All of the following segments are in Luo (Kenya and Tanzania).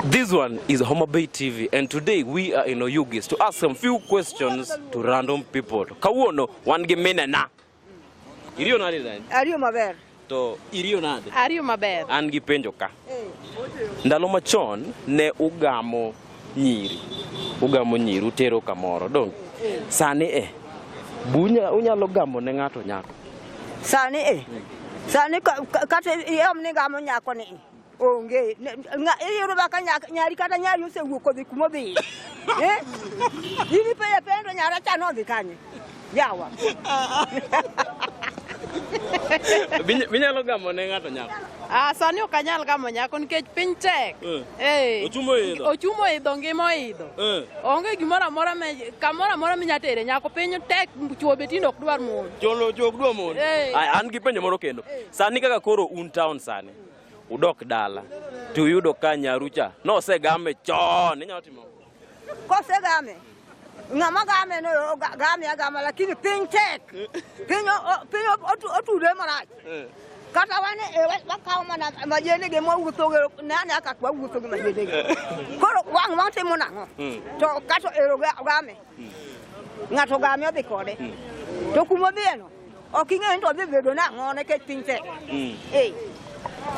This one is Homa Bay TV and today we are in Oyugis to ask some few questions to random people. Kawuono wan gi minena. Iriyo nade then? Ariyo maber. To iriyo nade? Ariyo maber. An gi penjo ka. Eh. Ndalo machon ne ugamo nyiri. Ugamo nyiri utero kamoro dong. Eh. Sani eh. Bunya unyalo gamo ne ng'ato nyako. Sani eh. Sani kata iom ni gamo nyako ni. onge Ne- nga- iyudo ba ka nya- nyari kata nyari osewuok kodhi kuma odhiye Eh? in ipenjo penjo nyara cha nodhi kanye yawa Binya- Binyalo gamo ne ng'ato nyako. Ah, sani ok anyal gamo nyako nikech piny tek. Eh. Eh. Ochuma oidho. Ochuma oidho ngima oidho. Eh. Onge gimoro amora ma kamoro amora minya tere nyako piny tek chwo be tinde ok dwar mon. Jolo jok dwa mon. Eh. Aya, an gi penjo moro kendo. Sani kaka koro un town sani. udok dala to uyudo ka nyaru cha nosegame chon inyalo timo kosegame ng'ama game no game agama lakini piny tek piny piny otude marach eh. kata wan e, wakawo mana majenege mwawuothoge nane aka wawuotho gi majenege eh. koro wang' watimo nang'o hmm. to kato ero game hmm. ng'ato game odhi kode hmm. to kuma odhiyeno Ok ing'eyo ni to wadhi bedo nang'o nekech piny tek. Mm. Eh.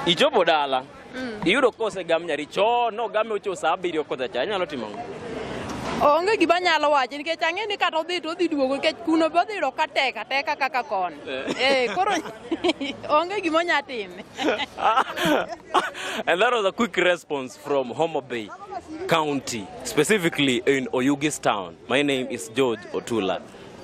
Ichopo dala. Mm. Iyudo kose gam nyari cho no game ocho saa abiriyo kota cha nyalo timo ang'o? Onge gima nyalo wacho nikech ang'e ni kata odhi to odhi duogo nikech kuno be odhi ka tek ateka kaka kon. Eh, eh koro onge gima onya timo. And that was a quick response from Homa Bay County, specifically in Oyugis town. My name is George Otula.